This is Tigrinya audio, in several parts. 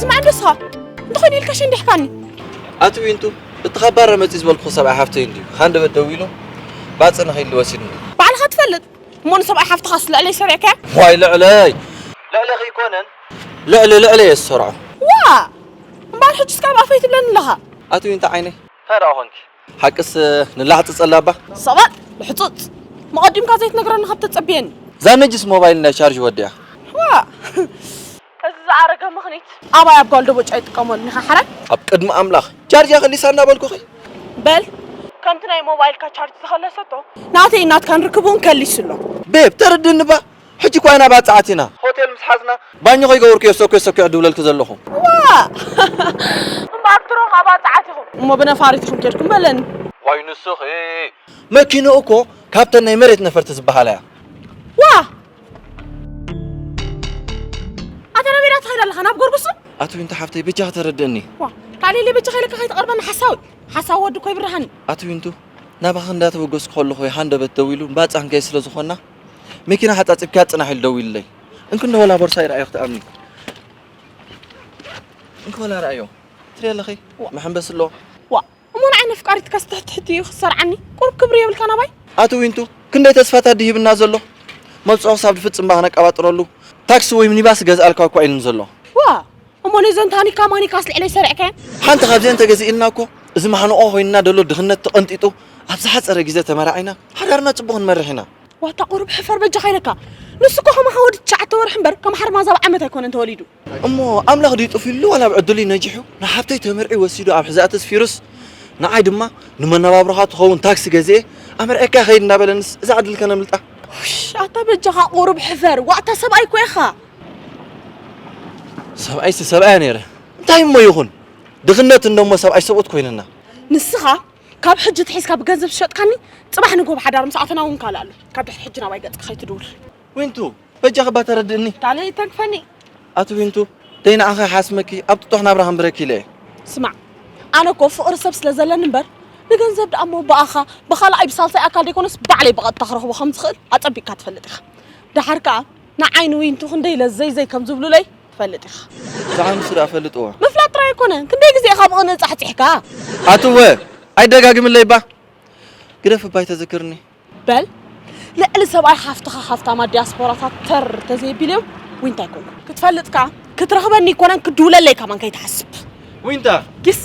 ስማዕ ንስኻ እንተኾይኑ ኢልካ ሽንዲሕካኒ ኣቲ ዊንቱ እቲ ካብ ባረ መፂ ዝበልኩ ሰብኣይ ሓፍተይ እንድዩ ካንደበት ደው ኢሉ ባፅ ንኸይሉ ወሲድኒ ባዕልኻ ትፈልጥ እሞ ንሰብኣይ ሓፍትኻ ስለዕለይ ሰሪዕካያ ዋይ ልዕለይ ልዕለ ከይኮነን ልዕሊ ልዕለ እየ ዝሰርዖ ዋ እምበኣር ሕጂ ስካብ ኣፈይ ትብለኒ ኣለኻ ኣቲ ዊንታ ዓይነይ እንታይ ደኣ ኮንኪ ሓቅስ ንላሕጽጸላ እባ። ስቕ በል ልሕጹጽ! መቐዲምካ ዘይትነግረኒ ካብ ተጸብየኒ። እዛ ነጅስ ሞባይል እንዳ ቻርጅ ወዲኣ። ዋእ እዚ ዝኣረገ ምኽኒት። ኣባይ ኣብ ጓል ደቦጭ ኣይጥቀመሉን ኢኻ ሓራይ። ኣብ ቅድሚ ኣምላኽ ቻርጃ ከሊሳ እናበልኩኺ። በል ከምቲ ናይ ሞባይልካ ቻርጅ ዝኸለሰቶ። ናተይን ናትካን ርክብ እውን ከሊሱ ኣሎ። ቤብ ተረድእኒ እባ ሕጂ እኳ ኢና ባጽዕቲ ኢና። ሆቴል ምስ ሓዝና ባኞ ከይገበርኩ እየ ሰኩዕ ሰኩዕ ድብለልኪ ዘለኹ። ዋእ! እምበኣር ድሮ ከኣ ባጽዓት ኢኹም። እሞ ብነፋሪት ኢኹም ኬድኩም በለኒ። ዋይ ንስኺ! መኪንኡ እኮ ካብተን ናይ መሬት ነፈርቲ ዝበሃላ እያ። ዋእ! ኣታ ናበይ ደኣ ትኸይድ ኣለኻ? ናብ ጎርጉሱ? ኣቲ ዊንታ ሓፍተይ በጃኺ ተረድእኒ። ዋእ! ካሌሌ በጃኻ ኢለካ ከይትቐርበኒ ሓሳዊ! ሓሳዊ ወዲ እኮ ይብርሃኒ። ኣቲ ዊንቱ ናባኺ እንዳተበገስኩ ከለኹ እየ ሃንደበት ደዊሉ ባጽዕ ክንከይድ ስለ ዝኾንና። መኪና ሓጻጺብካያ ጽናሕ ኢሉ ደዊሉለይ። እንክ እንዶ ወላ ቦርሳይ ረኣዮ ክትኣምኒ። እንክ ወላ ረኣዮ ትሪኦ ኣለኺ መሐንበሲ ኣሎ። ዋእ እሞ ንዓይ ነፍቃሪትካስ ትሕት ትሕት እዩ ክትሰርዓኒ ቁሩብ ክብሪ የብልካን ኣባይ። ኣቲ ዊንቱ ክንደይ ተስፋታት ድሂብና ዘሎ መብጽዖ ክሳብ ድፍጽም እባ ክነቀባጥረሉ ታክሲ ወይ ሚኒባስ ክገዝኣልካ እኳ ኢሉኒ ዘሎ። ዋእ እሞ ነዘን ታኒካ ማኒካስ ልዕለይ ሰሪዕካየን? ሓንቲ ካብዚኤን ተገዚእልና እኮ እዚ ማሕንቖ ኮይንና ደሎ ድኽነት ተቐንጢጡ ኣብ ዝሓጸረ ግዜ ተመራዒና ሓዳርና ጽቡቕ ክንመርሕ ኢና። ዋታ ቁሩብ ሕፈር በጃኻ ኢለካ። ንሱ እኮ ከማኻ ወዲ ትሽዓተ ወርሒ እምበር ከም ሓርማዝ ኣብ ዓመት ኣይኮነን ተወሊዱ። እሞ ኣምላኽ ድዩ ጥፍዩሉ ዋላ ብ ዕድሉ'ዩ ነጂሑ? ንሓብተይ ተመርዕዩ ወሲዱ ኣብ ሕዛእቲ ኣስፊሩስ ንዓይ ድማ ንመነባብሮኻ ትኸውን ታክሲ ገዚኤ ኣመርዕየካ ከይድ እንዳበለንስ እዛ ዕድል ከነምልጣ? ኣታ በጃኻ ቁሩብ ሕፈር ዋእ ኣታ ሰብኣይ እኮ ኢኻ። ሰብኣይ ሰብኣያ ነይረ እንታይ እሞ ይኹን ድኽነት እንደሞ ሰብኣይ ሰብኡት ኮይንና ንስኻ ካብ ሕጂ ትሒዝካ ብገንዘብ ዝሸጥካኒ ፅባሕ ንጎብ ሓዳር ምስ ኣፈና እውን ካልእ ኣሎ ካብ ድሕሪ ሕጂ ናባይ ገፅካ ከይትድውል ዊንቱ በጃኺ እባ ተረድእኒ ካልእ ይተንክፈኒ ኣቲ ዊንቱ ደይ ንዓኺ ሓስመኪ ኣብ ጥጡሕ ናብራ ክንብረኪ ኢለ እየ ስማዕ ኣነ እኮ ፍቕሪ ሰብ ስለ ዘለኒ እምበር ንገንዘብ ደኣ እሞ ብኣኻ ብኻልኣይ ብሳልሳይ ኣካል ዘይኮነስ ባዕለይ ብቐጥታ ክረኽቦ ከም ዝኽእል ኣጸቢቕካ ትፈልጥ ኢኻ ደሓር ከኣ ንዓይ ንዊንቱ ክንደይ ለዘይ ዘይ ከም ዝብሉለይ ትፈልጥ ኢኻ። ብዛዕባ ንሱ ደኣ ፈልጥዎ። ምፍላጥ ጥራይ ኣይኮነን ክንደይ ግዜ ኢኻ ብቕንኢ ጻሕጺሕካ። ኣቱወ ኣይደጋግምለይ እባ ግደፍ እባ ኣይተዝክርኒ። በል ልዕሊ ሰብኣይ ሓፍትኻ ሃፍታማት ዲያስፖራታት ተር ተዘየቢሎም ዊንታ ኣይኮንኩን። ክትፈልጥ ከኣ ክትረኽበኒ ኣይኮነን ክትድውለለይ ከማን ከይትሓስብ። ዊንታ ጊስ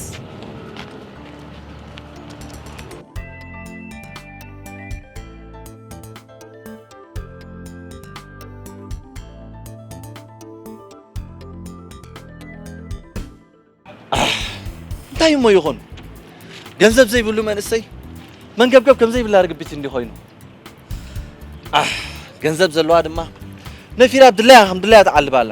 እንታይ እሞ ይኹን ገንዘብ ዘይብሉ መንእሰይ መንገብገብ ከም ዘይብላ ርግቢት እንዲ ኮይኑ ገንዘብ ዘለዋ ድማ ነፊራ ድላያ ከም ድላያ ትዓልብ ኣላ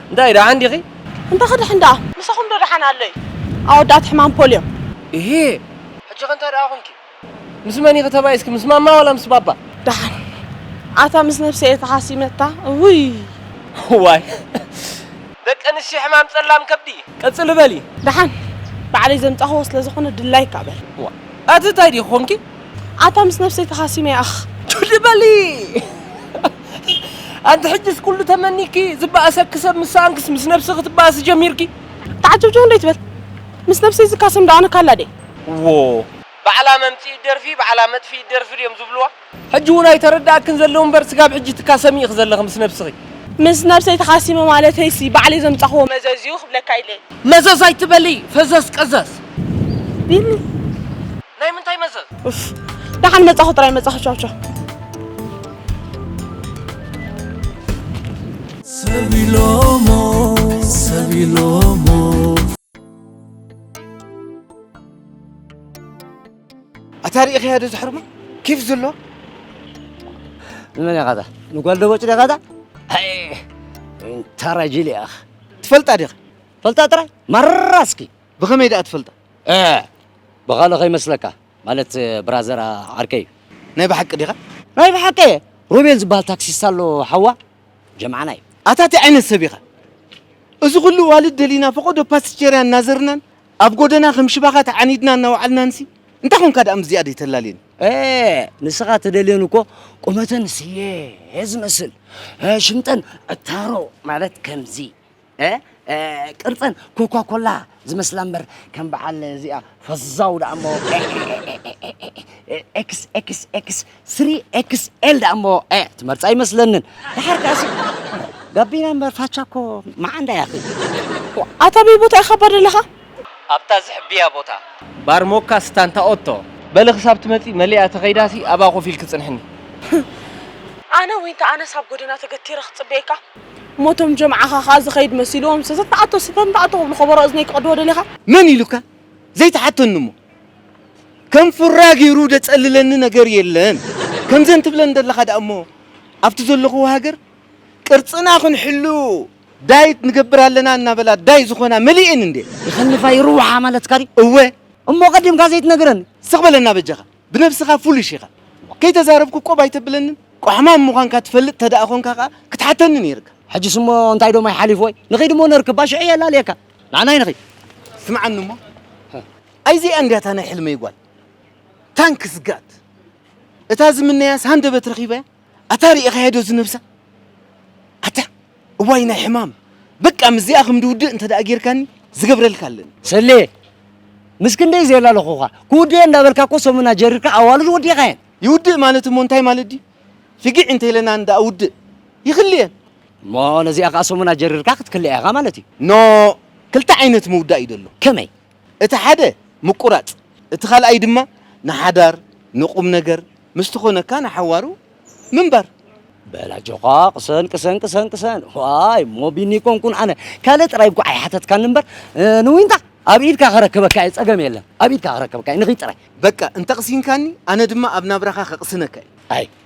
እንታይ ደሓን ዲኺ? እንታይ ክድሕን ደኣ ምሳኹም ዶ ደሓን ኣሎ እዩ ኣወዳት ሕማም ፖልዮ። እሂሂ ሕጂኸ እንታይ ደኣ ኮንኪ? ምስ መን ኢኺ ተባኢስኪ ምስ ማማ ዋላ ምስ ባባ? ደሓን ኣታ ምስ ነብሰይ እየ ተኻሲመታ እውይ። እዋይ ደቂ ኣንስትዮ ሕማም ጸላም ከብዲ። ቀጽሊ በሊ። ደሓን ባዕለይ ዘምጻኹዎ ስለዝኾነ ድላይካ በል። እዋእ ኣቲ ታይ ዲኺ ኮንኪ? ኣታ ምስ ነብሰይ ተኻሲመ ኣኽ። ቱሊ በሊ ኣንቲ ሕጂስ ኩሉ ተመኒኪ ዝበኣሰኪ ሰብ ምስ ሰኣንክስ ምስ ነብስኺ ትበኣሲ ጀሚርኪ። ተዓጀውጀው እንዶ ኣይትበል ምስ ነብሰይ ዝካሰም ዶ ኣነ ካላ ድየ። ዎው ባዕላ መምጺኢት ደርፊ ባዕላ መጥፊኢት ደርፊ ድዮም ዝብልዋ። ሕጂ ውን ኣይተረደኣክን ዘሎ እምበር ስጋብ ሕጂ ትካሰሚ ኢኺ ዘለኺ ምስ ነብስኺ። ምስ ነብሰይ ተኻሲመ ማለተይሲ ባዕለይ ዘምጻኹዎ መዘዝ እዩ ክብለካ ኢለ። መዘዝ ኣይትበሊ ፈዘዝ ቀዘዝ። ቢኒ ናይ ምንታይ መዘዝ? ኡፍ ደሓን መጻኹ ጥራይ መጻኹ ቻው ቻው። ሰቢሎሞ ሰቢሎሞ ኣታ ርኢኸያ ዶ ዝሕርሞ ኬፍ ዘሎ ንመን ኢኻ እታ ንጓል ደቦጭ ዲኻ እታ እንታራ ጅል ኢኻ ትፈልጣ ዲኻ ፈልጣ ጥራይ ማራ እስኪ ብኸመይ ደኣ ትፈልጣ? ኤህ! ብኻልእ ከይመስለካ፣ ማለት ብራዘር ዓርከይ። ናይ ብሓቂ ዲኻ? ናይ ብሓቂ እየ! ሮቤል ዝበሃል ታክሲስታ ኣሎ ሓዋ፣ ጀምዓና እዩ። ኣታ እንታይ ዓይነት ሰብ ኢኻ? እዚ ኹሉ ኣዋልድ ደሊና ፈቖዶ ፓስቸርያ እናዘርናን ኣብ ጎደና ከም ሽባኻ ተዓኒድና እናወዓልናንሲ እንታይ ኾንካ ደኣ ምስዚኣ ደይተላልየን? ኤህ! ንስኻ ትደልየን እኮ ቁመተን ስየ ዝመስል፣ ሽምጠን ዕታሮ ማለት ከምዚ ቅርፀን ኮኳኮላ ዝመስላ እምበር ከም በዓል እዚኣ ፈዛው ደኣ እሞ ኤክስ ኤክስ ኤክስ ስሪ ኤክስ ኤል ደኣ እሞ ትመርፃ ኣይመስለንን ድሓር ከኣሲ ጋቢና እምበር ፋቻ እኮ መዓንዳ እያ ኣታ በይ ቦታ ኢኻ እባ ዘለኻ ኣብታ ዝሕብያ ቦታ ባር ሞካ ስታንታ ኦቶ በሊ ክሳብ ትመፂ መሊኣ ተኸይዳሲ ኣብኣ ኮፍ ኢልኪ ፅንሕኒ ኣነ ዊንታ ኣነስ ኣብ ጎደና ተገቲረ ክፅበየካ እሞ እቶም ጀምዓኻ ከኣ ዝኸይድ መሲልዎም ሰሰ ተኣቶ ስፈም ተኣቶ ክብሉ ከበሮ እዝነይ ክቐድዎ ደሊኻ? መን ኢሉካ ዘይትሓተኒ እሞ ከም ፉራ ጌሩ ደጸልለኒ ነገር የለን ከምዘን ትብለን ደለኻ ደኣ እሞ ኣብቲ ዘለኹዎ ሃገር ቅርጽና ክንሕሉ ዳይት ንገብር ኣለና እናበላ ዳይ ዝኾና መሊኤን እንድየን። ይኸንፋ ይርውሓ ማለትካ ድዩ? እወ። እሞ ቀዲምካ ዘይትነግረኒ? ስቕ በለና በጃኻ። ብነብስኻ ፉሊሽ ኢኻ ከይተዛረብኩ ቆብ ኣይተብለንን ቋሕማም ምዃንካ ትፈልጥ ተደኣ ኮንካ ከኣ ክትሓተኒ ነይርካ። ሕጅስ እሞ እንታይ ዶ ማይ ሓሊፉ ወይ ንኺድ እሞ ነርክብ እባ ሽዑ የላልየካ ንዓናይ ንኺድ። ስምዓኒ እሞ ኣይ እዚኣ እንድያ እታ ናይ ሕልመይ ጓል ታንክስ ጋድ እታ ዝምነያስ ሃንደበት ረኺበያ። ኣታ ሪኢኻያ ዶ እዚ ነብሳ ኣታ እዋይ ናይ ሕማም በቃ ምስዚኣ ከም ድውድእ እንተ ጌርካኒ ዝገብረልካ ኣለኒ ሰሌ ምስ ክንደይ ዘየላለኹኻ ክውድእ እንዳበልካ እኮ ሰሙን ኣጀሪርካ ኣዋልድ ወዲእኻየን ይውድእ ማለት እሞ እንታይ ማለት ድዩ ፍጊዕ እንተኢለና እንዳ ውድእ ይኽልየን እሞ ነዚኣ ከዓ ሰሙን ኣጀሪርካ ክትክልኣ ኢኻ ማለት እዩ ኖ ክልተ ዓይነት ምውዳእ እዩ ዘሎ ከመይ እቲ ሓደ ምቁራጽ እቲ ካልኣይ ድማ ንሓዳር ንቁምነገር ምስቲ ኮነካ ንሓዋሩ ምንባር። በል ኣጆዃ ቅሰን ቅሰን ቅሰን ቅሰን ዋይ እሞ ቢኒ ኣይኮንኩን ኣነ ካልእ ጥራይ እንኳዕ ኣይሓተትካኒ እምበር ንዊንታ ኣብ ኢድካ ከረክበካ እየ ጸገም የለን ኣብ ኢድካ ከረክበካ እየ ንኺድ ጥራይ። በቃ እንተቕሲንካኒ ኣነ ድማ ኣብ ናብራኻ ከቕስነካ እየ። ኣይ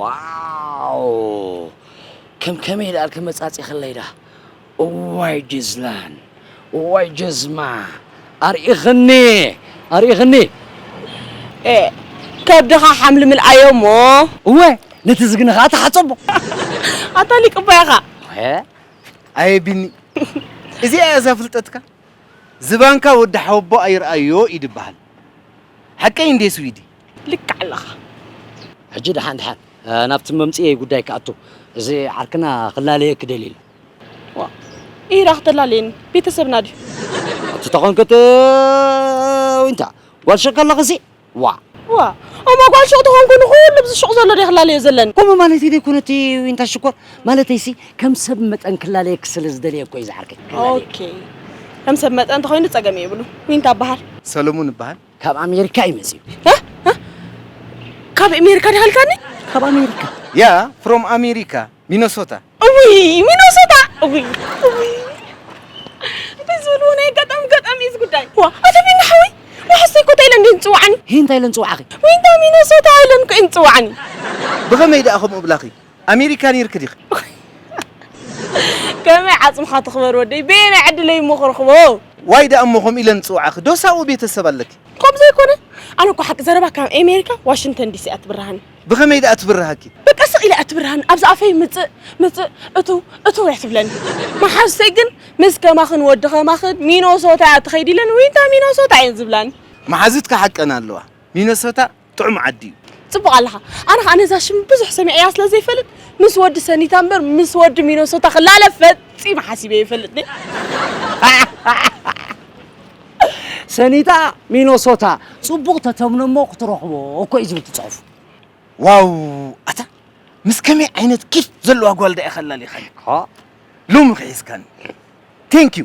ዋው ከም ከመይ ደኣ ኣልከ መጻጺኽለይ ደኣ እዋይ ጅዝላን እዋይ ጀዝማ ኣርኢኽኒ ኣርኢኽኒ ኤ ከብድኻ ሓምሊ ምልኣዮ እሞ እወ ነቲ ዝግነ ኸኣ ተሓጸቦ ኣታ ሊቅ እባ ኢኻ ሀ ኣየ ቢኒ እዚኣ እያ እዛ ፍልጠትካ ዝባንካ ወዲ ሓወቦኣ ይርኣዮ እዩ ድበሃል ሓቀይ እንዴ ስዊዲ ልክዕ ኣለኻ። ሕጂ ደሓን ደሓን ናብቲ መምጽኤይ ጉዳይ ክኣቱ፣ እዚ ዓርክና ክላለየኪ ደልዩ ኣሎ። ዋእ ኢራ ክተላለየኒ ቤተሰብና ድዩ? ኣቲ ተኾንክት ዊንታ ጓል ሹቕ ከለኽሲ ዋእ። ዋእ እሞ ጓል ሹቕ ተኾንኩ ንኹሉ ብዚ ሹቕ ዘሎ ድየ ክላለዮ ዘለኒ? ከምኡ ማለተይ ዘይኮነቲ ዊንታ ሽኮር፣ ማለተይሲ ከም ሰብ መጠን ክላለየኪ ስለ ዝደልየ እኮ እዩ ዝዓርከይ። ኦኬ ከም ሰብ መጠን ተኾይኑ ጸገም የብሉ። ዊንታ እበሃል። ሰለሙን እበሃል። ካብ ኣሜሪካ እዩ መፂኡ። ካብ ኣሜሪካ ዳሃልካኒ? ካብ ኣሜሪካ ያ ፍሮም ኣሜሪካ ሚኖሶታ። እዊ ሚኖሶታ እዊ እዊ እንታይ ዝበልዎ ናይ ኣጋጣሚ ኣጋጣሚ እዩ እዚ ጉዳይ። ዋ ኣቶ ቢኒ ሓወይ ዋሕሰይ ኮታ ኢለን ድየን ዝፅውዓኒ? እንታይ ኢለን ዝፅውዓኺ? ዊንታ ሚኖሶታ ኢለን እኮ እየን ዝፅውዓኒ። ብኸመይ ደኣ ከምኡ እብላኺ? ኣሜሪካ ኔርኪ ዲኺ? ከመይ ዓጽምኻ ትኽበር ወደይ በየናይ ዕድለይ እሞ ክረኽቦ። ዋይ ደኣ እሞ ከምኡ ኢለን ዝጽውዓኺ ዶስ ኣብኡ ቤተሰብ ኣለኪ? ከምኡ ዘይኮነ ኣነ እኮ ሓቂ ዘረባ ካብ ኤሜሪካ ዋሽንግተን ዲሲ እያ ትብርሃኒ። ብኸመይ ደኣ ትብርሃኪ? በቃ ስቕ ኢላ እያ ትብርሃኒ ኣብዚ ኣፈይ ምጽእ ምጽእ እትው እትው እያ ትብለኒ። መሓዙተይ ግን ምስ ከማኽን ወዲ ከማኽን ሚኖሶታ እያ ትኸይድ ኢለን ዊንታ ሚኖሶታ እየን ዝብላኒ። መሓዙትኪ ሓቀን ኣለዋ ሚኖሶታ ጥዑም ዓዲ እዩ። ጽቡቕ ኣለኻ ኣነ ኸኣ ነዛ ሽም ብዙሕ ሰሚዐያ ስለ ዘይፈልጥ ምስ ወዲ ሰኒታ እምበር ምስ ወዲ ሚኖሶታ ክላለ ፈጺመ ሓሲበ የፈልጥኒ ሰኒታ ሚኖሶታ ጽቡቕ ተተምኖ እሞ ክትረኽቦ እኮ እዩ ዝብል ትጽሑፍ ዋው ኣታ ምስ ከመይ ዓይነት ኪፍ ዘለዋ ጓል ዳኣ እያ ከላሊኻኒ ሎሚ ክሒዝካኒ ቴንክ ዩ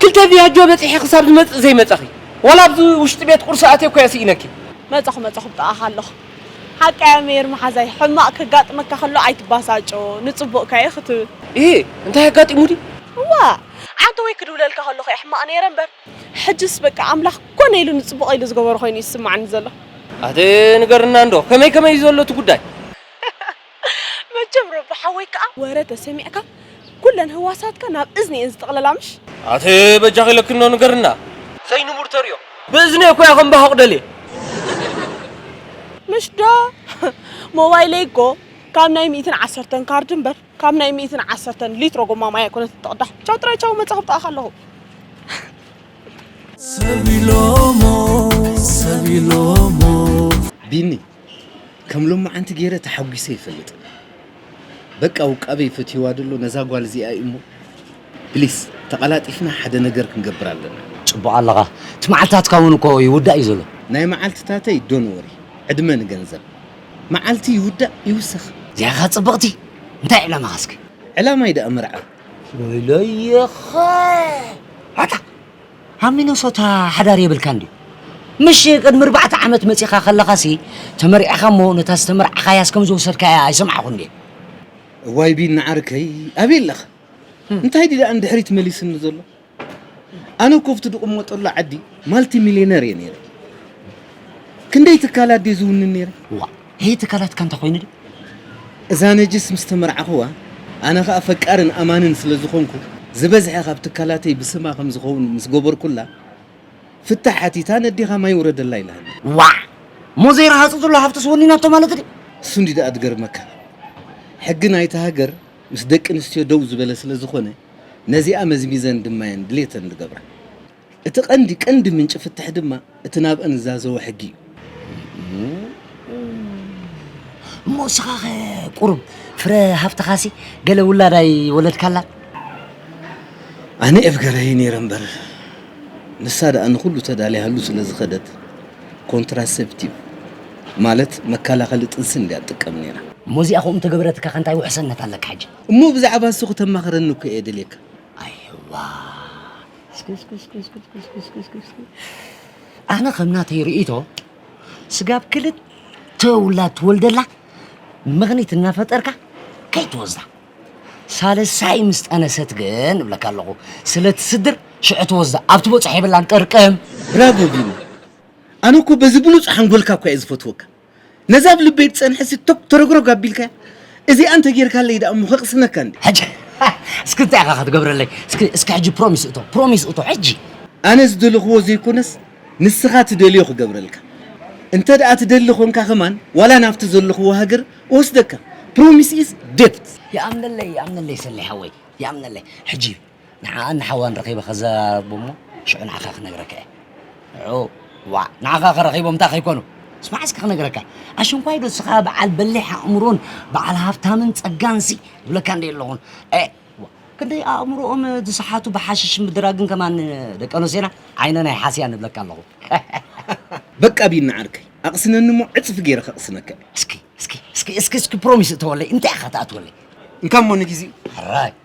ክልተ ቪያጆ በጺሐ ክሳብ ዝመጽእ ዘይመጸኺ። ዋላ ኣብዚ ውሽጢ ቤት ቁርሲ ኣትየ እኮ'የ ስኢነኪ። መጸኹ መጸኹ ብጥቓኻ ኣለኹ። ሓቃ'ያ ሜሪ መሓዛይ፣ ሕማቕ ከጋጥመካ ከሎ ኣይትባሳጮ፣ ንጽቡቕካ'ዩ ክትብል። እሂ እንታይ ኣጋጢሙ ድዩ? እዋእ! ዓንተወይ ክድውለልካ ከለኹ'የ ሕማቕ ነይረ እምበር፣ ሕጅስ በቃ ኣምላኽ ኮነ ኢሉ ንጽቡቐይ ኢሉ ዝገበሮ ኮይኑ'ዩ ዝስማዓኒ ዘሎ። ኣቲ ንገርና'ንዶ ከመይ ከመይ'ዩ ዘሎ እቲ ጉዳይ? መቸም ሮቢ ሓወይ ከኣ ወረ ተሰሚዕካ ኩለን ህዋሳትካ ናብ እዝኒ እየን ዝጥቕለላ ምሽ። ኣቲ በጃኺ ለኪኖ ንገርና ዘይንቡር ተርእዮ። ብእዝነይ እኮ እየ ከምባኹቕ ደልየ። ምሽ ዶ ሞባይለይ እኮ ካብ ናይ ሚእትን ዓሰርተን ካርድ እምበር ካብ ናይ ሚእትን ዓሰርተን ሊትሮ ጎማ ማይ ኣይኮነትን ትቕዳሕ። ቻው ጥራይ ቻው መጻ ኣብ ጥቓኻ ኣለኹ። ሰብ ኢሎሞ ሰብ ኢሎሞ ቢኒ ከም ሎማዓንቲ ገይረ ተሓጒሰ ኣይፈልጥን በቃ ውቃበይ ፈትይዋ ደሎ ነዛ ጓል እዚኣ እዩ እሞ ፕሊስ ተቀላጢፍና ሓደ ነገር ክንገብር ኣለና። ጽቡቅ ኣለኻ እቲ መዓልትታትካ ውን እኮ ይውዳእ እዩ ዘሎ። ናይ መዓልትታተይ ዶን ወሪ ዕድመ ንገንዘብ መዓልቲ ይውዳእ ይውሰኽ። ዚያኻ ጽብቕቲ እንታይ ዕላማኻ እስከ። ዕላማይ ደኣ መርዓ እዩ። ወይለይኻ ዋጣ! ኣብ ሚነሶታ ሓዳር የብልካን ድዩ? ምሽ ቅድሚ ኣርባዕተ ዓመት መጺኻ ከለኻሲ ተመርዒኻ እሞ ነታ ዝተመርዓኻያስ ከም ዝወሰድካያ ኣይሰማዕኹን ድየ? እዋይ ቢኒ ዓርከይ ኣበይ ኣለኻ? እንታይ ድዩ ደኣ ንድሕሪት መሊስኒ ዘሎ? ኣነ እኮ ኣብቲ ድቕመጠሉ ዓዲ ማልቲ ሚልየነር እየ ነይረ። ክንደይ ትካላት ድየ ዝውንን ነይረ። እዋ ሄይ ትካላትካ እንታይ ኮይኑ ድዩ እዛ ነጅስ ምስ ተመርዓኹዋ ኣነ ከኣ ፈቃርን ኣማንን ስለ ዝኾንኩ ዝበዝሐ ካብ ትካላተይ ብስማ ከም ዝኸውን ምስ ገበርኩላ ፍታሕ ሓቲታ ነዴኻ ማይ ውረደላ ኢላኒ። ዋዕ! ሞዘይ ረሃጹ ዘሎ ሃብትስ ወኒናቶ ማለት ድዩ? እሱ እንድዩ ደኣ ዝገርመካ ሕጊ ናይታ ሃገር ምስ ደቂ ኣንስትዮ ደው ዝበለ ስለ ዝኾነ ነዚኣ መዝሚዘን ድማየን ድሌተን ዝገብራ። እቲ ቀንዲ ቀንዲ ምንጪ ፍትሕ ድማ እቲ ናብአን ዝዛዘወ ሕጊ እዩ። እሞ እስኻኸ ቁሩብ ፍረ ሃፍትኻሲ ገለ ውላድ ኣይወለድካላን? ኣነ ኤፍገረይ ነይረ እምበር ንሳ ደኣ ንኹሉ ተዳሊያሉ ስለ ዝኸደት ኮንትራሴፕቲቭ ማለት መከላኸሊ ጥንስን ድያ ትጥቀም ነይራ። እሞ እዚኣ ከምኡ እንተገበረትካኸ እንታይ ውሕሰነት ኣለካ ሕጂ? እሞ ብዛዕባ እሱ ክተማኽረኒ እኮ እየ ደልየካ። ኣይዋ ኣነ ከም ናተይ ርእይቶ ስጋብ ክልተ ውላድ ትወልደላ ምኽኒት እናፈጠርካ ከይትወስዳ ሳልሳይ ምስ ጠነሰት ግን እብለካ ኣለኹ ስለ ትስድር ሽዑ ትወስዳ ኣብቲ ቦፅሕ የብላን ጥርቅም ብራቮ ቪኑ ኣነ እኮ በዚ ብሉፅ ሓንጎልካ እኳ እየ ዝፈትወካ ነዛ ኣብ ልበይ ትጸንሕሲ ቶግ ተረግረግ ኣቢልካያ እዚኣ እንተ ጌርካለይ ደኣ እሞ ከቕስነካ እንድየ። ሕጂ እስኪ እንታይ ኢኻ ክትገብረለይ እስኪ እስኪ ሕጂ ፕሮሚስ እቶ ፕሮሚስ እቶ ሕጂ። ኣነ ዝደለኽዎ ዘይኮነስ ንስኻ ትደልዮ ክገብረልካ እንተ ደኣ ትደሊ ኮንካ ከማን ዋላ ናብቲ ዘለኽዎ ሃገር እወስደካ ፕሮሚስ ኢዝ ደብት። ይኣምነለይ ይኣምነለይ ሰሌ ሓወይ ይኣምነለይ ሕጂ። ንዓኣን ንሓዋን ረኺበ ከዘራርቦም እሞ ሽዑ ንዓኻ ክነግረካ እየ። ንዑ ዋእ ንዓኻ ከረኺቦም እንታይ ከይኮኑ ስማዕ እስኪ ክነግረካ ኣሽንኳይ ዶ ስኻ በዓል በሊሕ ኣእምሮን በዓል ሃብታምን ጸጋንሲ ዝብለካ እንደ ኣለኹን እ ክንደይ ኣእምሮኦም ዝሰሓቱ ብሓሽሽን ብድራግን ከማን ደቂ ኣንስትዮና ዓይነን ኣይሓስያን እብለካ ኣለኹ በቃ ቢኒ ዓርከይ ኣቕስነኒ እሞ ዕጽፊ ገይረ ከቕስነካ እየ እስኪ እስኪ እስኪ እስኪ እስኪ ፕሮሚስ እተወለይ እንታይ ኢኻ ትኣትወለይ እንካ እሞ ንግዜኡ ሕራይ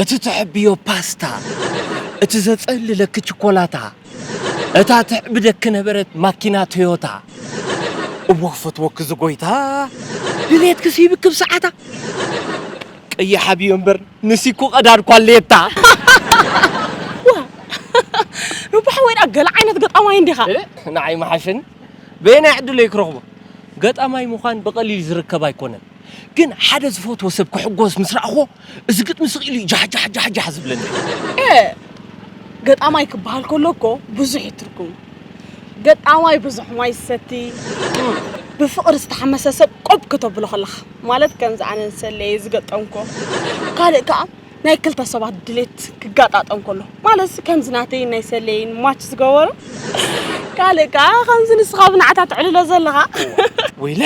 እቲ ትሕብዮ ፓስታ፣ እቲ ዘጸልለኪ ችኮላታ፣ እታ ትሕብደኪ ነበረት ማኪና ቶዮታ። እወ ክፈትወኪ ዝጎይታ፣ ድሌትኪ ስሂብኪ ብሰዓታ። ቀይሕ ኣብዮ እምበር ንሲኩ ቀዳድ ኳሌታ። ዋእ ሩባሕ ወይድኣ ገለ ዓይነት ገጣማይ እንዲኻ። ንዓይ ምሓሸኒ በየናይ ዕድለይ ክረኽቦ ገጣማይ ምዃን ብቐሊል ዝርከብ ኣይኮነን። ግን ሓደ ዝፈትዎ ሰብ ክሕጎስ ምስ ረኣኹዎ እዚ ግጥሚ ስቂሉ እዩ ጃሕጃሕጃሕጃሕ ዝብለኒ። ኤእ ገጣማይ ክበሃል ከሎ እኮ ብዙሕ እዩ ትርጉሙ። ገጣማይ ብዙሕ ማይ ዝሰቲ፣ ብፍቕሪ ዝተሓመሰ ሰብ ቆብ ክተብሎ ከለኻ ማለት ከምዚ ኣነ ንሰሌ እየ ዝገጠምኩዎ። ካልእ ከኣ ናይ ክልተ ሰባት ድሌት ክጋጣጠም ከሎ ማለትሲ ከምዚ ናተይን ናይ ሰሌይን ማች ዝገበሮ። ካልእ ከኣ ከምዚ ንስኻ ብናዕታ ተዕልሎ ዘለኻ። ወይለ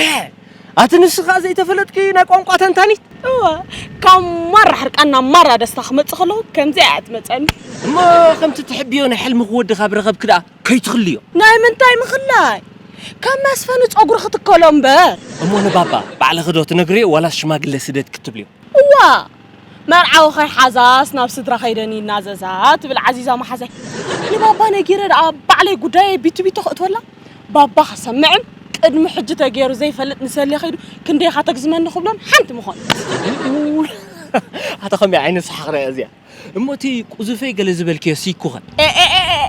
ኣቲ ንስ ከኣ ዘይተፈለጥኪ ናይ ቋንቋ ተንታኒት እወ ካብ ማራ ሕርቃን ናብ ማራ ደስታ ክመጽእ ከለኹ ከምዚኣ እያ ትመጸኒ እሞ ከምቲ ትሕብዮ ናይ ሕልምኺ ወዲ ካብ ረኸብኪ ደኣ ከይትኽልዮ ናይ ምንታይ ምኽላይ ከም መስፈኒ ጸጉሪ ክትከሎ እምበር እሞ ንባባ ባዕልኺ ዶ ትነግርዮ ዋላስ ሽማግለ ስደድ ክትብልዮ እዋ መርዓዊ ከይሓዛስ ናብ ስድራ ከይደን ይናዘዛ ትብል ዓዚዛ መሓዛይ። ንባባ ነጊረ ደኣ ባዕለይ ጉዳየይ ቢቲቢቲ ከእትወላ? ባባ ክሰምዕን ቅድሚ ሕጂ ተገይሩ ዘይፈልጥ ንሰሌ ከይዱ ክንደይ ኢኻ ተግዝመኒ ክብሎን ሓንቲ ምኾነት። ኣታ ከመይ ዓይነት ሰሓቕ ደኣ እያ እዚኣ? እሞ እቲ ቁዙፈይ ገለ ዝበልክዮ ሲክ'ኸ? ኤእእእእ!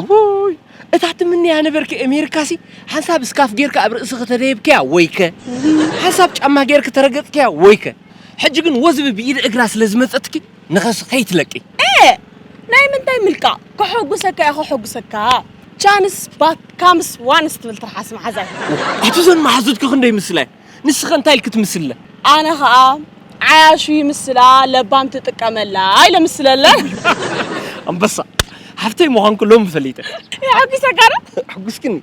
እውይ እታ ትምንያ ነበርኪ ኣሜሪካሲ ሓንሳብ እስካፍ ጌርኪ ኣብ ርእስኺ ተደየብክያ ወይከ ሓንሳብ ጫማ ጌርኪ ተረገጽክያ ወይከ ሕጂ ግን ወዝቢ ብኢድ እግራ ስለ ዝመጸትኪ ንኸስ ከይትለቂ ኤእ ናይ ምንታይ ምልቃቕ ከሐጉሰካ እየ ከሐጉሰካ ቻንስ ባካምስ ዋንስ ትብል ትርሓስ መሓዛይ። ኣቲ ዘን መሓዙትኪ ክንደይ ምስላየ ንስኸ እንታይ ኢልኪ ትምስልለ? ኣነ ኸኣ ዓያሹ ይምስላ ለባም ትጥቀመላ ኢለ ምስለለ። ኣንበሳ ሓፍተይ ምዃንኩ ሎሚ ፈሊጠ። የሐጒሰካ ዶ? ኣሕጒስክኒ።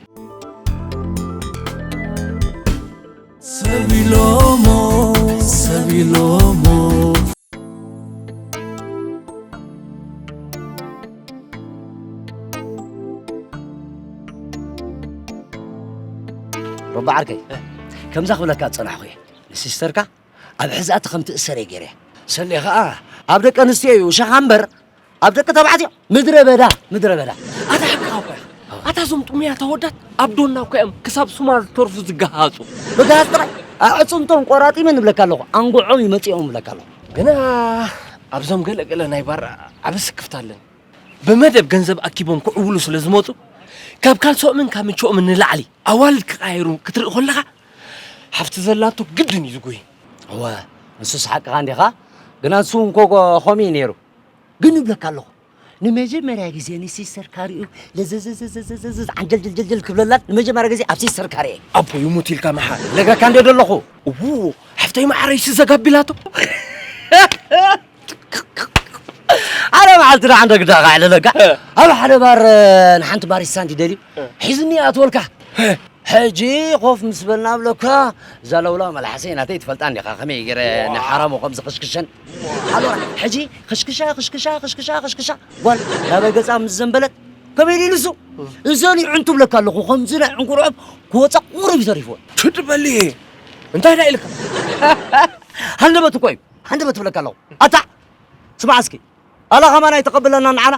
ሰብ ኢሎሞ ሰብ ኢሎሞ ረባ ዓርከይ ከምዛ ክብለካ ዝፀናሕኹ እየ ንሲስተርካ ኣብ ሕዛእቲ ከም ትእሰር እየ ገይረ ሰሌ ከዓ ኣብ ደቂ ኣንስትዮ እዩ ሸኻ እምበር ኣብ ደቂ ተባዕትዮ ምድረ በዳ ምድረ በዳ ኣታ ሓቅኻ እኮ ኢኻ ኣታ እዞም ጥሙያት ኣወዳት ኣብ ዶና እኮ እዮም ክሳብ ሱማር ተርፉ ዝገሃፁ መጋሃፅ ጥራይ ኣዕፅምቶም ቆራጢመን እብለካ ኣለኹ ኣንጎዖም ይመፅኦም እብለካ ኣለኹ ግና ኣብዞም ገለ ገለ ናይ ባር ዓቢ ስክፍታ ኣለኒ። ብመደብ ገንዘብ ኣኪቦም ክዕውሉ ስለ ዝመጹ ካብ ካልሶኦምን ካብ ምችኦምን ንላዕሊ ኣዋልድ ክቓየሩ ክትርኢ ኮለኻ ሓፍቲ ዘላቶ ግድን እዩ ዝጉሂ። እወ ንሱስ ሓቅኻ እንዲኻ ግና ንሱ እውን ኮ ከምኡ እዩ ነይሩ። ግን እብለካ ኣለኹ ንመጀመርያ ግዜ ንሲስተር ካሪኡ ለዘዘዘዘዘዘዘ ዓንጀልጀልጀልጀል ክብለላን ንመጀመርያ ግዜ ኣብ ሲስተር ካሪ እየ ኣቦ ይሙት ኢልካ መሓር ነገርካ እንደ ደለኹ እዉ ሓፍተይ መዓረይ ስዘጋቢላቶ ኣነ መዓልቲ ደኣ እንደ ግዳ ካዕልለካ ኣብ ሓደ ባር ንሓንቲ ባሪስታ እንዲ ደልዩ ሒዝኒ ኣትወልካ ሕጂ ኮፍ ምስ በልና ኣብለካ ዛለውላ መልሓሰይ ናተይ ትፈልጣ እንዲኻ ከመይ ገይረ ንሓራሙ ከም ዝኽሽክሸን ሓሎራ ሕጂ ክሽክሻ ክሽክሻ ክሽክሻ ክሽክሻ ጓል ናበይ ገጻ ምስ ዘንበለት ከመይ ኢሉ ንሱ እዘን ይዕንቱ ብለካ ኣለኹ ከምዚ ናይ ዕንኩርዖብ ክወፃ ቁሩብ እዩ ተሪፍዎ ትድበሊ እንታይ ዳ ኢልካ ሃንደበት እኮ እዩ ሃንደበት ትብለካ ኣለኹ ኣታ ስማዕ እስኪ ኣላ ከማን ኣይተቐብለና ንዓና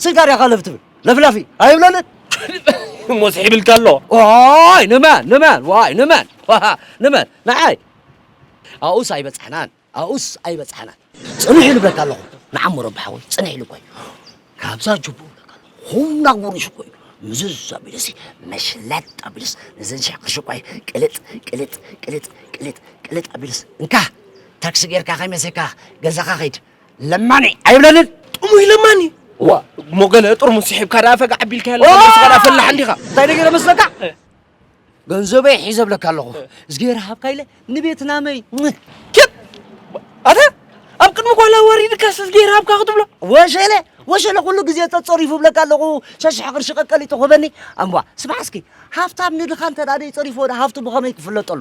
ስንካ ሪያኻ ለፍ ትብል ለፍላፊ ኣይብለንን እሞ ስሒብልካ ኣሎ ዋይ ንመን ንመን ዋይ ንመን ንመን ንዓይ ኣብኡስ ኣይበፅሕናን ኣብኡስ ኣይበጻሕናን። ጽንሕ ኢሉ እብለካ ኣለኹ። ንዓም ረቢ ሓወይ ጽንሕ ኢሉ እኳ እዩ ካብዛ ጅቡኡ እብለካ ኣለኹ። ኹላ ጉርሽ እኮ እዩ ምዝዝ ኣቢለሲ መሽለጥ ኣቢለስ ነዘን ሽሕ ቅርሺ እኳ እዩ ቅልጥ ቅልጥ ቅልጥ ቅልጥ ቅልጥ ኣቢለስ እንካ ታክሲ ጌርካ ከይመሰካ ገዛኻ ኸይድ ለማኒ ኣይብለንን ጥሙይ ለማኒ ዋ እሞ ገለ ጥርሙስ ስሒብካ ደኣ ፈጋዕ ኣቢልካዮ ኣለኻ ነብስኻ ደኣ ፈላሕ እንዲኻ እንታይ ነገረ መስለካ ገንዘበይ ሒዘ ብለካ ኣለኹ እዝጌር ሃብካ ኢለ ንቤት ናመይ ኬት ኣታ ኣብ ቅድሚ ጓል ኣዋሪድካስ እዝጌር ሃብካ ክትብሎ ወሸለ ወሸለ ኩሉ ግዜ ተጸሪፉ ብለካ ኣለኹ ሸሽሐ ቅርሺ ቀቀሊጡ ኮበኒ ኣምቧ ስማዕ እስኪ ሃብታም ንድኻ እንተ ደኣ ደይጸሪፎ ሃብቱ ብኸመይ ክፍለጠሉ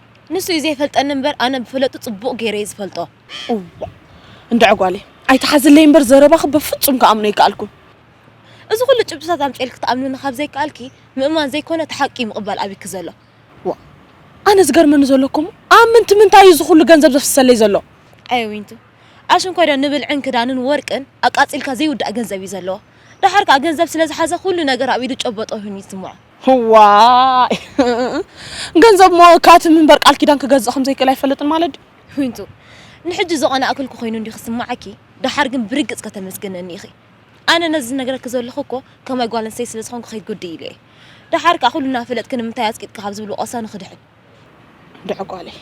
ንሱ እዩ ዘይፈልጠኒ እምበር ኣነ ብፍለጡ ጽቡቕ ገይረ እየ ዝፈልጦ። እዋእ እንድዒ ጓለይ ኣይትሓዝለይ እምበር ዘረባኺ በፍጹም ክኣምኖ ኣይከኣልኩን። እዚ ኩሉ ጭብጥታት ኣምጺኤልኪ ትኣምንኒ ካብ ዘይከኣልኪ ምእማን ዘይኮነ እቲ ሓቂ እዩ ምቕባል ኣብኪ ዘሎ። ዋእ ኣነ ዝገርመኒ ዘሎ እኮ እሞ ኣብ ምንቲ ምንታይ እዩ እዚ ኩሉ ገንዘብ ዘፍስሰለይ ዘሎ? ኣየ ዊንቱ ኣሽንኳይዶ ንብልዕን ክዳንን ወርቅን ኣቃጺልካ ዘይውዳእ ገንዘብ እዩ ዘለዎ። ደሓር ከኣ ገንዘብ ስለ ዝሓዘ ኩሉ ነገር ኣብ ኢዱ ጨበጦ ኮይኑ ይስምዖ። እዋይ ገንዘብ እሞ ካትም እምበር ቃል ኪዳን ክገዝእ ከም ዘይክእል ኣይፈልጥን ማለት ድዩ? ዊንቱ ንሕጂ ዝቐናእክልኩ ኮይኑ እንድዩ ክስምዓኪ፣ ደሓር ግን ብርግጽ ከተመስግነኒ ኢኺ። ኣነ ነዚ ዝነግረኪ ዘለኹ እኮ ከማይ ጓል ኣንስተይቲ ስለ ዝኾንኩ ከይጉድእ ኢለ እየ። ደሓር ከኣ ኩሉ እናፈለጥኪ ንምንታይ ኣጽቂጥኪ ካብ ዝብል ወቐሳ ንኽድሕን። እንድዒ ጓለይ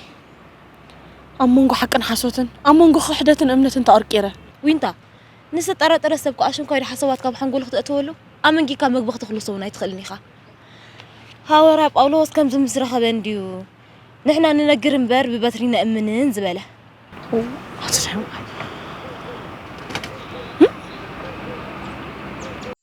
ኣብ መንጎ ሓቅን ሓሶትን፣ ኣብ መንጎ ክሕደትን እምነትን ተቐርቂረ። ዊንታ ንዝተጠራጠረ ሰብ ክኣ ሽንኳይዶ ሓሳባት ካብ ሓንጎሉ ክተእትወሉ ኣመንጊካ መግቢ ክትኽልሶ ውን ኣይትኽእልን ኢኻ። ሃወርያ ጳውሎስ ከምዚ ምስ ረኸበ እንድዩ ንሕና ንነግር እምበር ብበትሪ ነእምንን ዝበለ።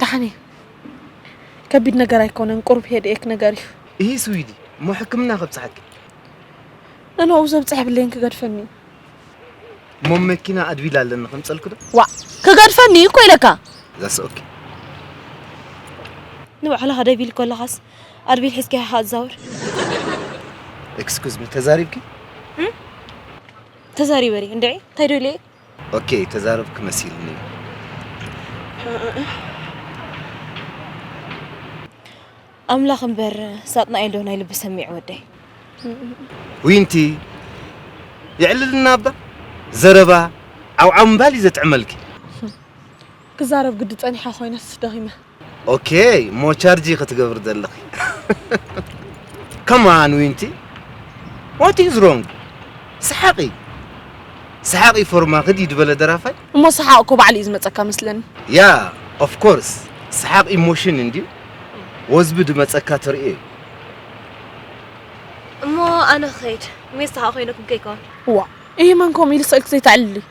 ዳሓን እዩ ከቢድ ነገር ኣይኮነን ቁሩብ ሄድ ኤክ ነገር እዩ እሂ ስዊዲ እሞ ሕክምና ከብፅሐኪ ንንኡ ዘብፅሐ ብሌን ክገድፈኒ እዩ እሞ መኪና ኣድቢላ ኣለኒ ከምፀልኪ ዶ ዋዕ ክገድፈኒ እዩ እኮ ኢለካ ዛስ ኦኬ ንባዕልኻ ደቢል ከለኻስ ኣድቢል ሒዝካ ኢኻ ኣዛውር ኤክስኩዝ ሚ ተዛሪብኪ ተዛሪበ እንድዒ እንታይ ዶ ኢለ ኦኬ ተዛረብኪ መሲልኒ። ኣምላኽ እምበር ሳጥናኤል ዶ ናይ ልቢ ሰሚዑ ወደይ። ዊንቲ የዕልልና እባ ዘረባ ዓውዓው ምባል እዩ ዘጥዕመልኪ። ክዛረብ ግዲ ጸኒሓ ኮይነስ ደኺመ። ኦኬይ እሞ ቻርጂ ክትገብሪ ዘለኺ ከማን ዊንቲ ዋት ኢዝ ሮንግ ሰሓቂ ሰሓቂ ፎርማ ክዲ ድበለ ደራፋይ እሞ ሰሓቅ እኮ ባዕሉ እዩ ዝመፀካ መስለኒ ያ ኦፍ ኮርስ ሰሓቅ ኢሞሽን እንድዩ ወዝቢ ድመፀካ ትርእዮ እዩ እሞ ኣነ ክኸይድ ሜስ ሰሓቅ ኮይነኩም ከይከውን ዋ ይህ መን ከምኡ ኢሉ ስእልክ ዘይተዕልሊ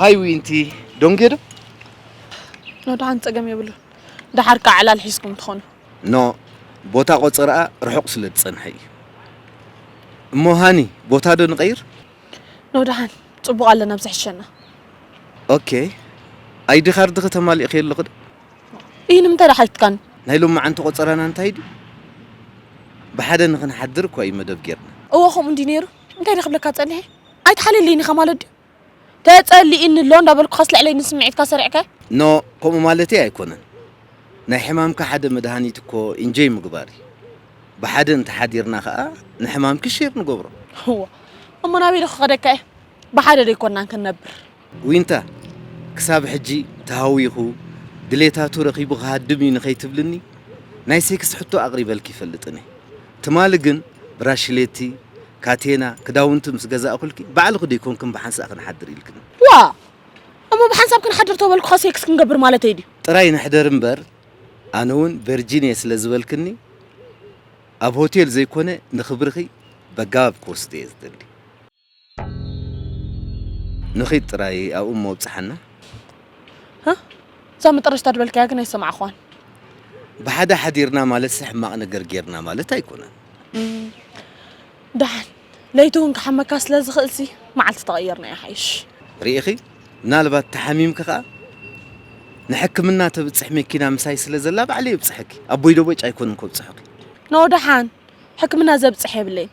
ሃይ ዊንቲ ዶንጌዶ ኖዳን ጸገም የብሉ ደሓር ከዓ ዕላል ሒዝኩም ትኾኑ ኖ ቦታ ቆፅርኣ ርሑቕ ስለ ዝፀንሐ እዩ እሞ ሃኒ ቦታ ዶ ንቐይር ኖዳን ጽቡቕ ኣለና ብዝሕሸና ኦኬ ኣይዲ ካርድኺ ተማሊእኺ ኣለኹ እዩ ንምንታይ ደኣ ሓቲትካኒ ናይ ሎማዓንቲ ቆጸራና እንታይ ድዩ ብሓደ ንኽንሓድር እኳ እዩ መደብ ጌርና እወ ከምኡ እንዲ ነይሩ እንታይ ደ ክብለካ ጸኒሐ ኣይትሓልየለይን ኢኻ ማለት ድዩ ተጸሊኢኒ ኣሎ እንዳበልኩኻስ ልዕለይ ንስምዒትካ ሰሪዕከ ኖ ከምኡ ማለተይ ኣይኮነን ናይ ሕማምካ ሓደ መድሃኒት እኮ ኢንጆይ ምግባር እዩ ብሓደ እንተሓዲርና ከኣ ንሕማምኪ ሼር ንገብሮ እወ እሞ ናበይ ዶ ክኸደካ እየ ብሓደ ዶ ኣይኮናን ክንነብር ዊንታ ክሳብ ሕጂ ተሃዊኹ ድሌታቱ ረኺቡ ክሃድም እዩ ንኸይትብልኒ ናይ ሴክስ ሕቶ ኣቕሪበልኪ ይፈልጥን እየ ትማሊ ግን ብራሽሌቲ ካቴና ክዳውንቲ ምስ ገዛእኹልኪ ባዕልኺ ዶ ኣይኮንክን ብሓንሳእ ክንሓድር ኢልክኒ። ዋእ እሞ ብሓንሳብ ክንሓድር ተበልኩኻ ሴክስ ክንገብር ማለተይ ድዩ? ጥራይ ንሕደር እምበር ኣነ ውን ቨርጂን እየ ስለ ዝበልክኒ ኣብ ሆቴል ዘይኮነ ንኽብርኺ በጋባብ ክወስዶ እየ ዝደሊ። ንኺድ ጥራይ ኣብኡ እሞ ኣብጽሓና። እዛ መጠረሽታ ዝበልካያ ግን ኣይሰማዕኽዋን። ብሓደ ሓዲርና ማለትሲ ሕማቕ ነገር ጌርና ማለት ኣይኮነን። ደሓን ለይቲ እውን ክሓመካ ስለ ዝኽእልሲ መዓልቲ ተቐይርና ይሓይሽ። ርኢኺ፣ ምናልባት ተሓሚምኪ ከኣ ንሕክምና ተብጽሕ መኪና ምሳይ ስለ ዘላ ባዕለይ የብጽሐኪ። ኣቦይ ዶ በጭ ኣይኮንን ከብጽሑኪ። ኖ ደሓን ሕክምና ዘብጽሕ የብለይን።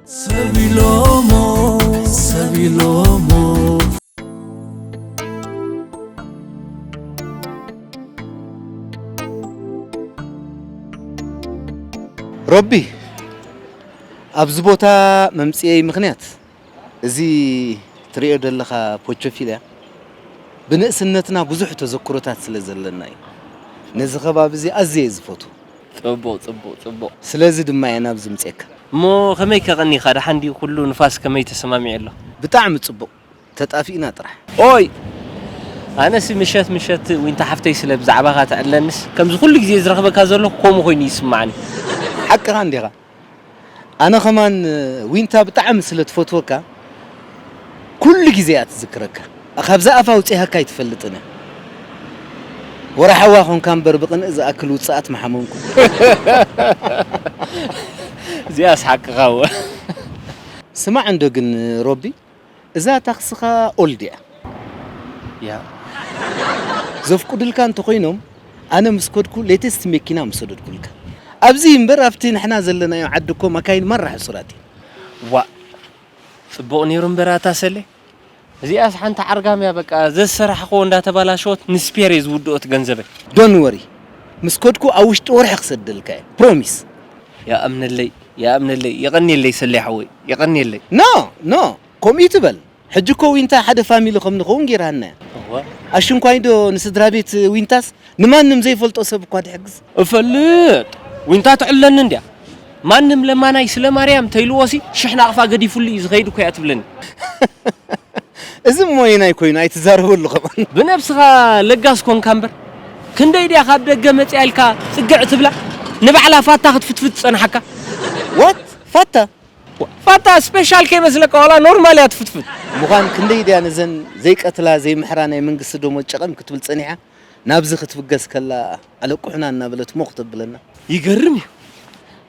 ሮቢ ኣብዚ ቦታ መምፅኤይ ምክንያት እዚ ትሪኦ ዘለኻ ፖቾፊልያ ብንእስነትና ብዙሕ ተዘክሮታት ስለ ዘለና እዩ። ነዚ ከባቢ እዚ ኣዝየ እየ ዝፈትዎ። ጽቡቅ ጽቡቅ ጽቡቅ። ስለዚ ድማ እየ ናብዚ ምጼካ። እሞ ከመይ ከቀኒካ ደሓን ድዩ ኩሉ ንፋስ ከመይ ተሰማሚዑ ኣሎ። ብጣዕሚ ጽቡቅ ተጣፊእና ጥራሕ። ኦይ ኣነሲ ምሸት ምሸት ዊንታ ሓፍተይ ስለ ብዛዕባካ ትዕለንስ ከምዚ ኩሉ ግዜ ዝረክበካ ዘለኩ ከምኡ ኮይኑ ይስማዓኒ። ሓቅኻ እንዲኻ ኣነ ከማን ዊንታ ብጣዕሚ ስለ ትፈትወካ ኩሉ ግዜ እያ ትዝክረካ ካብዛ ኣፋ ኣውጺሃካ ኣይትፈልጥን እያ ወራሓዋ ኮንካ እምበር ብቅንኢ ዝኣክል ውጽኣት ምሓመምኩ። እዚኣስ ሓቅኻ እወ። ስማዕ እንዶ ግን ሮቢ እዛ ታክስኻ ኦል ድያ? ያእ ዘፍቁድልካ እንተኾይኖም ኣነ ምስ ከድኩ ሌተስት መኪና ምሰደድኩልካ ኣብዚ እምበር ኣብቲ ንሕና ዘለናዮ ዓዲ እኮ መካይን ማራ ሕሱራት እየን። ዋእ ጽቡቅ ኔሩ እምበር ኣታ ሰሌ እዚኣስ ሓንቲ ዓርጋም እያ በቃ ዘዝሰራሕክዎ እንዳተባላሸወት ንስፔር እየ ዝውድኦት ገንዘበይ። ዶን ወሪ ምስ ከድኩ ኣብ ውሽጢ ወርሒ ክሰደልካ እየ ፕሮሚስ። ያኣምነለይ ይኣምነለይ የቐንየለይ ሰሌ ሓወይ የቐንየለይ። ን ን ከምኡ እይትበል ሕጂ እኮ ዊንታ ሓደ ፋሚሊ ከም ንኸውን ጌራና እያ እወ ኣሽንኳይ ዶ ንስድራቤት ዊንታስ ንማንም ዘይፈልጦ ሰብ እኳ ትሕግዝ። እፈልጥ ዊንታ ትሕለኒ እንድያ ማንም ለማናይ ስለ ማርያም ተይልዎ ሲ ሽሕ ናቕፋ ገዲፉሉ እዩ ዝኸይድ እኮ እያ ትብለኒ። እዚ እሞ ኣየናይ ኮይኑ ኣይትዛረበሉ ከማን። ብነብስኻ ለጋስ ኮንካ እምበር ክንደይ ድያ ካብ ደገ መጺኣ ኢልካ ጽግዕ ትብላ ንባዕላ ፋታ ክትፍትፍት ዝጸናሓካ። What? ፋታ? ፋታ ስፔሻል ከይመስለካ ዋላ ኖርማል እያ ትፍትፍት። ምዃን ክንደይ ድያ ነዘን ዘይቀትላ ዘይምሕራ ናይ መንግስቲ ደሞዝ ጨቐም ክትብል ጸኒሓ ናብዚ ክትብገስ ከላ ኣለቁሑና እናበለት ሞኽ ተብለና። ይገርም እዩ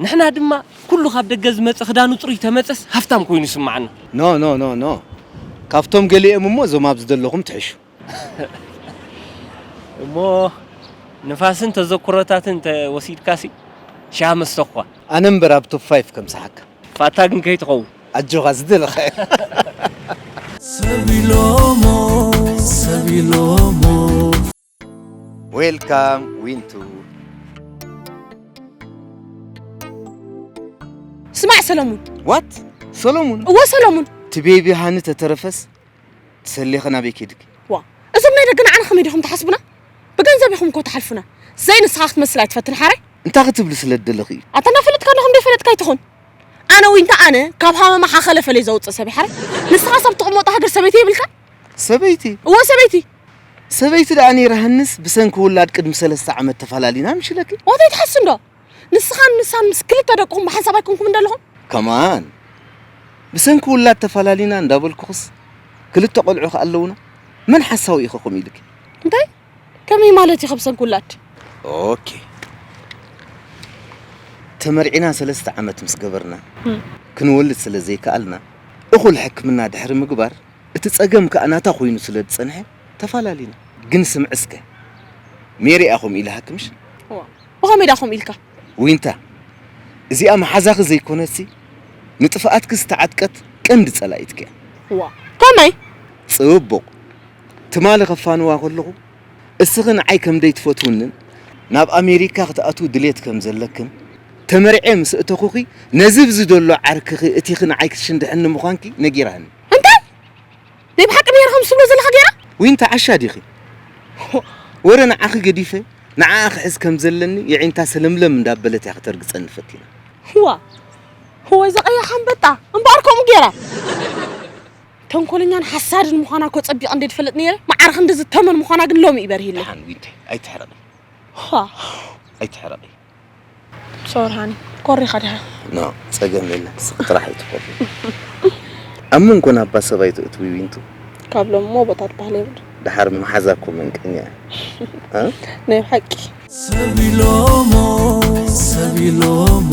ንሕና ድማ ኩሉ ካብ ደገ ዝመጸ ክዳኑ ጽሩይ ተመጸስ ሃፍታም ኮይኑ ይስማዓና። No no no no ካብቶም ገሊኦም እሞ እዞም ኣብዚ ዘለኹም ትሕሹ። እሞ ንፋስን ተዘኩሮታትን እንተ ወሲድካሲ ሻህ መስተኹኳ። ኣነ እምበር ኣብ ቶፕ ፋይፍ ከምጽሓካ። ፋታ ግን ከይትኸውን። ኣጆኻ ዝደለኻዮ። ሰብ ኢሎሞ ሰብ ኢሎሞ። ዌልካም ዊንቱ። ስማዕ ሰለሙን። ዋት ሰለሙን? እወ ሰለሙን። እቲ ቤቢ ሃኒ ተተረፈስ ትሰሊኺ ናበይ ኬድኪ? ዋእ እዞም ናይ ደገ ንዓና ከመይ ዲኹም ትሓስቡና? ብገንዘብ ኢኹም እኮ ትሓልፉና። ዘይ ንስኻ ክትመስል ኣይትፈትን ሓራይ። እንታይ ክትብሊ ስለ ትደለኺ እዩ? ኣታ እናፈለጥካ ኣለኹ እንደ ፈለጥካ ኣይትኹን። ኣነ ወይ እንታይ ኣነ ካብ ሃመማ ሓኸለ ፈለይ ዘውፅእ ሰብ ሓራይ። ንስኻ ሰብ ትቕመጦ ሃገር ሰበይቲ የብልካን? ሰበይቲ? እወ ሰበይቲ። ሰበይቲ ደኣ ነይራህንስ ብሰንኪ ውላድ ቅድሚ ሰለስተ ዓመት ተፋላሊና ምሽለኪ። ዋት ኣይትሓስንዶ? ንስኻን ንሳን ምስ ክልተ ደቅኹም ብሓንሳብ ኣይኮንኩም እንደለኹም ከማን ብሰንኪ ውላድ ተፈላሊና እንዳበልኩኽስ ክልተ ቆልዑ ከ ኣለውና መን ሓሳዊ ኢኸ ከምኡ ኢልኪ እንታይ ከመይ ማለት ኢኸ ብሰንኪ ውላድ ኦኬ ተመርዒና ሰለስተ ዓመት ምስ ገበርና ክንወልድ ስለ ዘይከኣልና እኹል ሕክምና ድሕሪ ምግባር እቲ ጸገም ከኣ ናታ ኮይኑ ስለ ዝጸንሐ ተፈላለና ግን ስምዕ እስከ ሜሪ እያ ከምኡ ኢላሃክምሽ ብኸመይ ድኣ ከምኡ ኢልካ? ዊንታ እዚኣ መሓዛኺ ዘይኮነትሲ ንጥፍኣትኪ ዝተዓጥቀት ቀንዲ ጸላኢትኪ እያ። ዋእ! ከመይ? ጽቡቕ! ትማሊ ከፋንዋ ከለኹ እስኺ ንዓይ ከም ዘይትፈትውንን ናብ ኣሜሪካ ክትኣትዊ ድሌት ከም ዘለክን ተመርዕየ ምስ እእተኹኺ ነዚ ብዚ ዘሎ ዓርክኺ እቲኺ ንዓይ ክትሽንድሕኒ ምዃንኪ ነጊራኒ። እንታይ? ናይ ብሓቂ ኔራ ከምዚ ትብሎ ዘለኻ ጌራ? ዊንታ ዓሻ ዲኺ? ወረ ንዓኺ ገዲፈ ንዓኣ ክሕዝ ከም ዘለኒ የዒንታ ሰለምለም እንዳበለት እያ ከተርግጸኒ ፈቲና። እዋ እወ እዛ ቀያሕ ኣንበጣ እምበኣር ከምኡ ጌራ ተንኮለኛን ሓሳድን ምዃና እኮ ጸቢቐ እንደ ድፈልጥ ነይረ መዓር ክንዲ ዝተመን ምዃና ግን ሎሚ እዩ በሪህለይ። ደሓን ዊንታይ ኣይትሕረቒ ኣይትሕረቒ ሶርሃን ኮሪኻ ድኻ ኖ ጸገም የለን ስቅ ጥራሕ ኣይትኹን ኣብ መንጎና እባ ሰብ ኣይተእትዊ ዊንቱ ካብ ሎሚ ሞቦታ ትበሃል የብሉ ድሓር መሓዛ እኮ መንቀኛ እያ ናይ ብሓቂ ሰብ ኢሎሞ ሰብ ኢሎሞ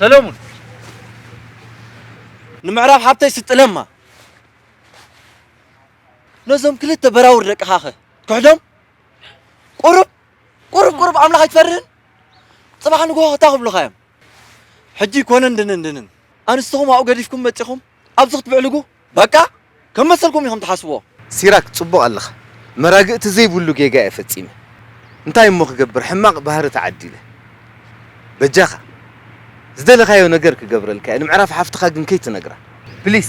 ሰለሙን ንምዕራፍ ሓብተይ ስጥለማ ነዞም ክልተ በራውር ደቅኻ ኸ ክሕዶም ቁሩብ ቁሩብ ቁሩብ ኣምላኽ ኣይትፈርህን ፅባሕ ንግሆ ክታ ክብሉኻ እዮም ሕጂ ኮነን ድንን ድንን ኣንስትኹም ኣብኡ ገዲፍኩም መፂኹም ኣብዚ ክትብዕልጉ በቃ ከም መሰልኩም ኢኩም ትሓስብዎ። ሲራክ ጽቡቅ ኣለኻ መራግእቲ ዘይብሉ ጌጋ እየ ፈጺመ እንታይ እሞ ክገብር ሕማቅ ባህሪ ተዓዲለ በጃኻ ዝደለኻዮ ነገር ክገብረልካ እየ ንምዕራፍ ሓፍትኻ ግን ከይትነግራ ፕሊስ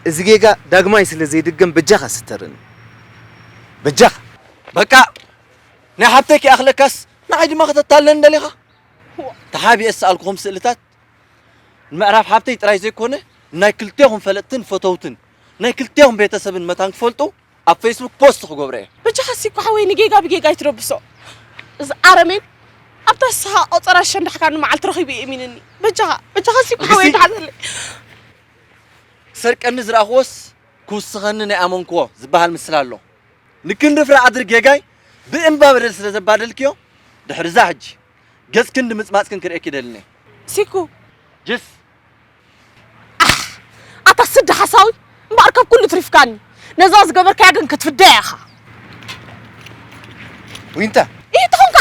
እዚ ጌጋ ዳግማይ ስለ ዘይድገም በጃኻ ስተረኒ በጃኻ። በቃ ናይ ሓብተይ ከይኣኽለካስ ንዓይ ድማ ከተታልለኒ ደሊኻ? ተሓቢኤ ዝሰኣልኩኹም ስእልታት ንምዕራፍ ሓብተይ ጥራይ ዘይኮነ ናይ ክልቴኹም ፈለጥትን ፈተውትን ናይ ክልቴኹም ቤተሰብን መታን ክፈልጡ ኣብ ፌስቡክ ፖስት ክገብሮ እየ። በጃኻ ሲኮ ሓወይ ንጌጋ ብጌጋ ኣይትደብሶ እዚ ኣረሜን ኣብታ ስኻ ቆጸራ ሸንዳሕካኒ መዓልቲ ረኺቡ የእሚንኒ በጃኻ በጃኻ ሲኮ ሓወይ እግሲ! ተሓዘለይ ክሰርቀኒ ዝረኣኹዎስ ክውስኸኒ ናይ ኣመንኩዎ ዝበሃል ምስላ ኣሎ ንክንዲ ፍረ ኣድሪ ጌጋይ ብእንባ በደል ስለ ዘባደልክዮ ድሕርዛ ሕጂ ገጽክን ድምጽማጽክን ክርእየኪ ደልኒ ሲኩ ጅስ ኣታ ስዲ ሓሳዊ እምበኣር ካብ ኩሉ ትሪፍካኒ ነዛ ዝገበርካያ ግን ክትፍደያ ኢኻ ዊንታ እዩ ትኾንካ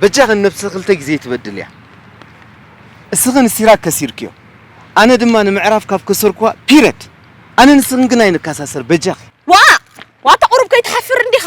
በጃኽን ነብሲ ክልተ ግዜ ትበድል እያ እስኽን ሲራክ ከሲርክዮ ኣነ ድማ ንምዕራፍ ካብ ከሰርኳ ፒረድ ኣነ ንስኽን ግን ኣይንከሳሰር በጃኺ ዋ ዋታ ቁሩብ ከይትሓፍር እንዲኻ